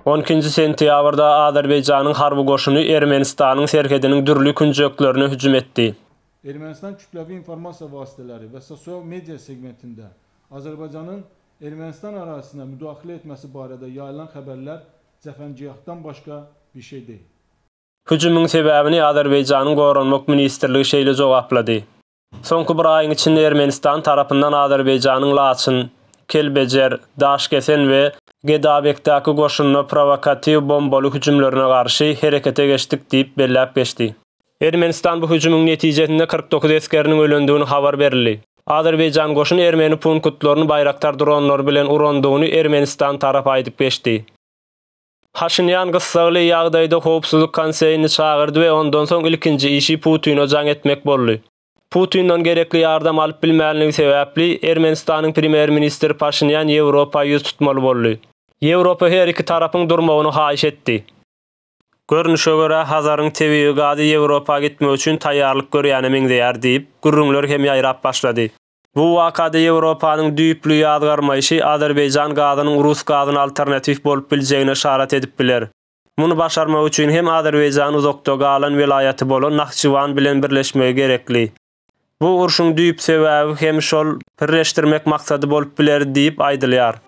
On ikinji sentýabrda Azerbaýjanyň harby goşuny Ermenistanyň serhediniň dürli künjeklerine hüjüm etdi. Ermenistan kütlewi informasiýa wasteleri we sosial media segmentinde Azerbaýjanyň Ermenistan arazysyna müdahile etmesi barada ýaýylan haberler jahangijahdan başga bir şey değil. Hüjümiň sebäbini Azerbaýjanyň Goranmak ministrligi şeýle jogaplady. Soňky bir aýyň içinde Ermenistan tarapyndan Azerbaýjanyň Laçyn, Kelbejer, Daşkesen we Gedabekdäki goşunyna prowokatiw bombaly hüjümlerine garşy herekete geçdik diýip belläp geçdi. Ermenistan bu hüjümiň netijesinde kyrk dokuz esgeriniň ölendigini habar berildi. Azerbaýjan goşun ermeni punkutlaryny baýraktar dronlary bilen urandygyny Ermenistan tarap aýdyp geçdi. Paşinýan gyssagly ýagdaýda Howpsuzlyk Konseýini çagyrdy we ondan soň ilkinji işi Putine jaň etmek boldy. Putinden gerekli ýardam alyp bilmänligi sebäpli, Ermenistanyň premýer-ministri Paşinýan Ýewropa ýüz tutmaly boldy. Ýewropa her iki tarapyň durmagyny haýyş etdi. Görnüşe görä, Hazaryň tebigy gazy Ýewropa gitmek üçin taýýarlyk görýäne meňzeýär diýip, gürrüňler hem ýaýrap başlady. Bu wakada Ýewropanyň düýpli ýazgarmaýşy azerbaýjan gazynyň rus gazyna alternatiw bolup biljegine yşarat edip biler. Muny başarmak üçin hem Azerbaýjan uzakda galan welaýaty bolan Nahçywan bilen birleşmegi gerekli. Bu urşuň düýp sebäbi hem şol birleşdirmek maksady bolup biler diýip aýdylýar.